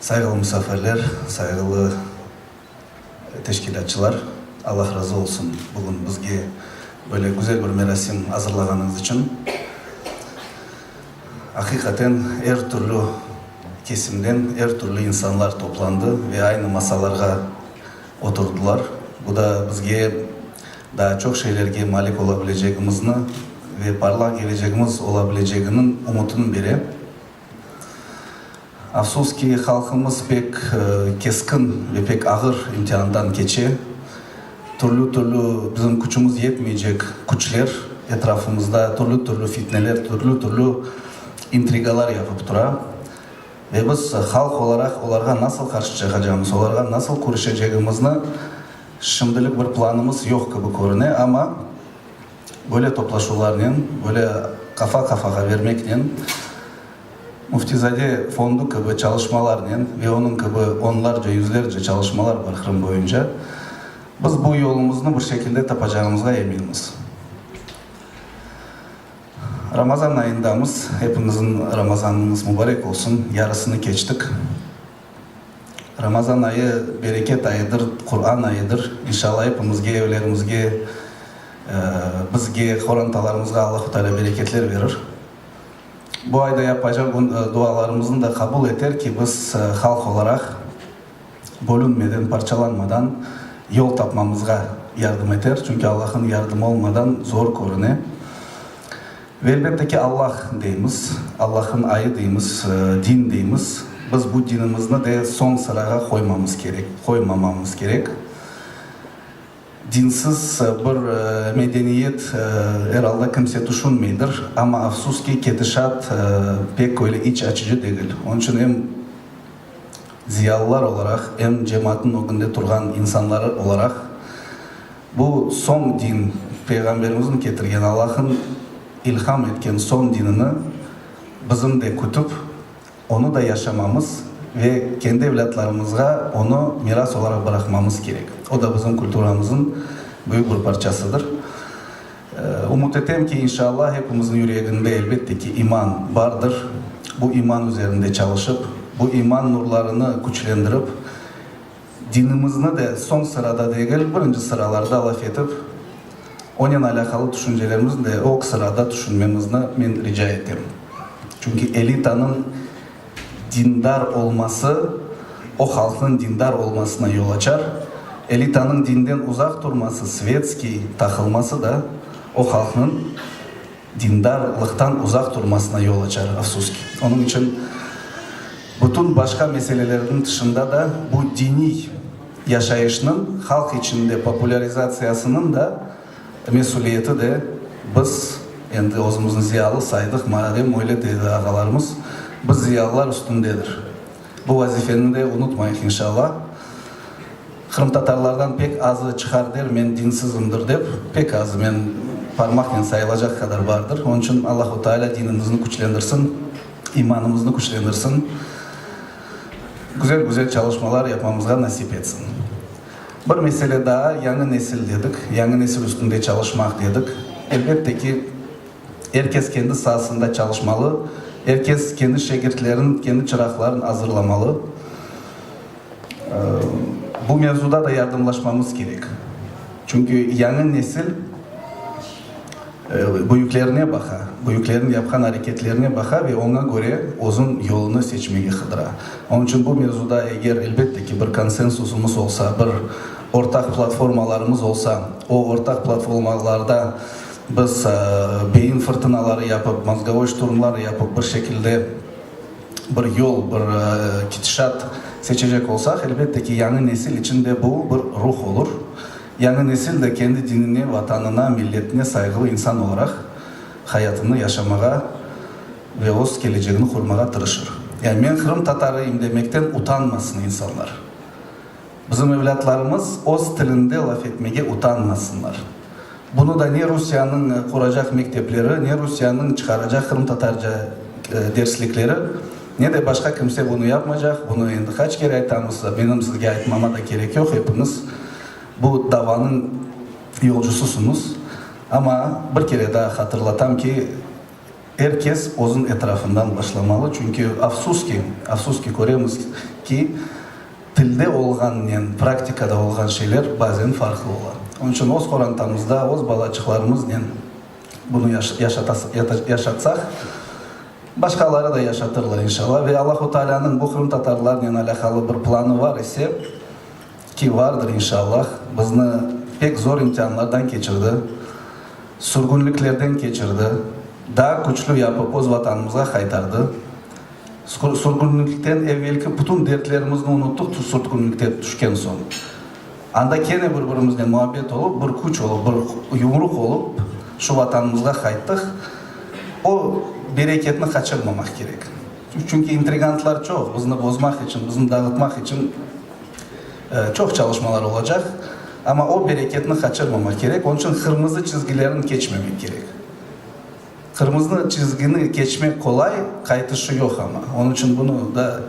Sayğılı musafirler, sayğılı teşkilâtçılar, Allah razı olsun, bugün bizge böyle güzel bir merasim azırlağanıñız içün. Aqiqaten, er türlü kesimden, er türlü insanlar toplandı ve aynı masalarğa, Oturdılar. Bu da bizge daa çoq şeylerge malik ola bilecegimizni ve parlaq gelecegimiz ola bileceginiñ umutını bere. Afsus ki, halqımız pek keskin ve pek ağır imtiandan keçe. Türlü-türlü bizim küçümiz yetmeycek küçler etrafımızda türlü-türlü fitneler, türlü-türlü intrigalar yapıp tura. Ve biz halq olaraq olarğa nasıl qarşı çıqacağımız, olarğa nasıl küreşecegimizni şimdilik bir planımız yoq kibi körüne, amma böyle toplaşuvlarnen, böyle qafa qafağa vermeknen, Müftizade fondu kibi çalışmalarnen ve onıñ kibi onlarca, yüzlerce çalışmalar bar Qırım boyunca, biz bu yolumıznı bir şekilde tapacağımızğa eminmiz. Ramazan ayındamız, hepimizin Ramazanınız mubarek olsun, yarısını keçtik. Ramazan ayı bereket ayıdır, Quran ayıdır. İnşalla hepimizge, evlerimizge, bizge, qorantalarımızğa Allahu Teala bereketler berir. Bu ayda yapacaq dualarımızın da qabul eter ki, biz halq olaraq, bölünmeden, parçalanmadan yol tapmamızğa yardım eter, çünki Allah'ın yardımı olmadan zor körüne. Ve elbette ki, Allah deymiz, Allah'ın ayı deymiz, din deymiz. Biz bu dinimizni de soñ sırağa qoymamız kerek, qoymamamız kerek. Dinsiz bir medeniyet, er alda, kimse tüşünmeydir, amma afsus ki, ketişat pek öyle iç açıcı degil. Onıñ içün em. Ziyalılar olaraq, em cemaatnıñ ögünde turğan insanları olaraq, bu soñ din, Peyğamberimizniñ ketirgen, Allah'ın ilham etken soñ dinini bizim de kütip, onı da yaşamamız ve kendi evlâtlarımızğa onı miras olaraq bıraqmamız kerek. O da bizim kulturamızın büyük bir parçasıdır. Ümüt etem ki, inşallah, epimizniñ yüreginde, elbette ki, iman bardır. Bu iman üzerinde çalışıp, bu iman nurlarını küçlendirip, dinimizni de soñ sırada degil, birinci sıralarda laf etip, onen alâqalı tüşüncelerimizni de ög sırada tüşünmemizni men rica etem. Çünki elitanıñ Dindar olması o halqnıñ dindar olmasına yol açar, elitanıñ dinden uzaq turması, svetskiy taqılması da o halqnıñ dindarlıqtan uzaq turmasına yol açar, afsus ki. Onıñ içün bütün başqa meselelerniñ tışında da bu diniy yaşayışnıñ halq içinde populârizatsiyasınıñ da, Mesüliyeti de biz endi özümizni ziyalı saydıq, malem öyle dedi ağalarımız, biz ziyalılar üstündedir. Bu vazifeni de unutmayıq inşalla. Qırımtatarlardan pek azı çıqar der, men dinsizimdir dep, pek azı, men parmaqnen sayılacaq qadar bardır. Onıñ içün Allahu Teala dinimizni küçlendirsin, imanımıznı küçlendirsin, güzel-güzel çalışmalar yapmamızğa nasip etsin. Bir mesele daa, yañı nesil dedik, yañı nesil üstünde çalışmaq dedik. Elbette ki, er kes kendi saasında çalışmalı, er kes kendi şegirtlerin, kendi çıraqların azırlamalı. Bu mevzuda da yardımlaşmamız kerek. Çünki yañı nesil. Büyüklerine baqa, büyüklerniñ yapqan areketlerine baqa ve oña köre özüñ yolunı seçmege qıdıra. Onıñ içün bu mevzuda eger, elbette ki, bir konsensusımız olsa, bir ortaq platformalarımız olsa, o ortaq platformalarda biz beyin fırtınaları yapıp, mozgovoy şturmlar yapıp bir şekilde bir yol, bir ketişat seçecek olsaq, elbette ki, yañı nesil içün de bu bir ruh olur. Yañı nesil de kendi dinine, vatanına, milletine sayğılı insan olaraq hayatını yaşamağa ve öz kelecegini qurmağa tırışır. Yani men Qırım tatarıyım demekten utanmasın insanlar. Bizim evlâtlarımız öz tilinde laf etmege utanmasınlar. Bunı da ne Rusiyanıñ quracaq mektepleri, ne Rusiyanıñ çıqaracaq qırımtatarca derslikleri, Ne de başqa kimse bunı yapmaycaq, bunı endi qaç kere aytamız, menim sizge aytmama da kerek yoq, epiñiz bu davanıñ yolcusısıñız. Amma bir kere daa hatırlatam ki, er kes özüñ etrafından başlamalı, çünki afsus ki, afsus ki, köremiz ki, tilde olğannen praktikada olğan şeyler bazen farqlı ola. Onıñ içün öz qorantamızda, öz balaçıqlarımıznen bunı yaşatasıq, yaşatsaq, Başqaları da yaşatırlar, inşalla. Ve Allahu Taalânıñ bu qırımtatarlarnen alâqalı bir planı bar ise, ki vardır, inşalla, bizni pek zor imtianlardan keçirdi, sürgünliklerden keçirdi, daa küçlü yapıp öz Vatanımızğa qaytardı. Sürgünlikten evelki bütün dertlerimizni unuttıq, sürgünlikte tüşken soñ. Anda kene bir-birimiznen muabbet olıp, bir küç olıp, bir yumruq olıp, şu Vatanımızğa qayttıq. O bereketni qaçırmamaq kerek. Çünki intrigantlar çoq, bizni bozmaq içün, bizni dağıtmaq içün çoq çalışmalar olacaq. Amma o bereketni qaçırmamaq kerek. Onıñ içün qırmızı çizgilerni keçmemek kerek. Qırmızı çizgini keçmek qolay, qaytışı yoq ama. Onıñ içün bunı da,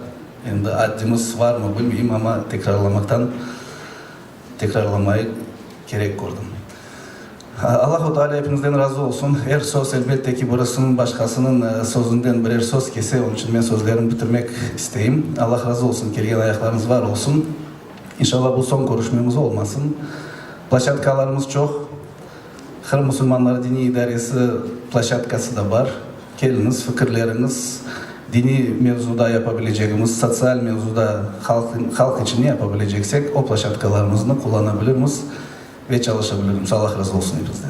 endi addimiz varmı, bilmeyim, amma tekrarlamaqtan tekrarlamayıq kerek kördim. Allahu Teala epinizden razı olsun. Er söz, elbette ki, birisiñ başqasınıñ sözünden birer söz kese, onıñ içün men sözlerimni bitirmek isteyim. Allah razı olsun, kelgen ayaqlarıñız var olsun. İnşallah, bu soñ körüşmemiz olmasın. Plashatkalarımız çoq. Qırım musulmanları diniy idaresi plaşatkası da bar. Keliñiz, fikirleriñiz, diniy mevzuda yapa bilecegimiz, sotsial mevzuda, halq, halq içün ne yapa bileceksek, o plaşatkalarımıznı qullana bilirmiz ve çalışa bilirmiz. Allah razı olsun eñizden.